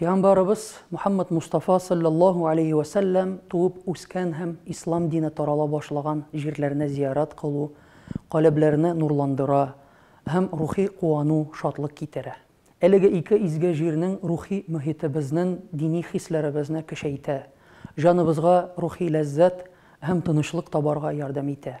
Пиамбарыбыз Мухаммад Мустафа салләллаһу алейһи вә сәлләм туып үскән һәм ислам дине тарала башлаган җирләрне зиярәт кылу каләбләрне нурландыра һәм рухи куану, шатлык китерә. Әлеге ике изге җирнең рухи мохите безнен дини хисләребезне көчәйтә, җаныбызга рухи ләззәт һәм тынычлык табарга ярдәм итә.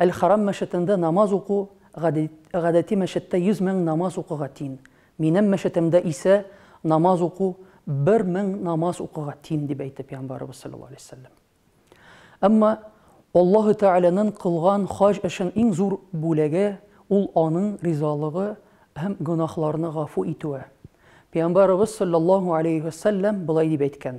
Әл-Харам мәчетендә намаз уку гадәти мәчеттә 100 мең намаз укуга тиң, минем мәчетемдә исә намаз уку бер мең намаз укуга тиң, дип әйтте пәйгамбәребез саллаллаһу алейһи ва сәлләм. Әмма Аллаһы Тәгаләнең кылган хаҗ эшен иң зур бүләге, ул аның ризалыгы һәм гөнаһларны гафу итүе. Пәйгамбәребез саллаллаһу алейһи ва сәлләм болай дип әйткән,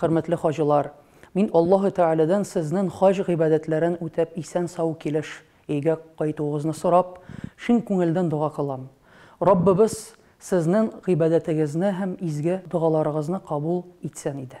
Хөрмәтле хаҗилар! Мин Аллаһы Тәгаләдән сезнен хаҗ гыйбадәтләрен үтәп исән-сау килеш өйгә кайтуыгызны сорап, чын күңелдән дога кылам. Раббыбыз сезнен гыйбадәтегезне һәм изге догаларыгызны кабул итсен иде.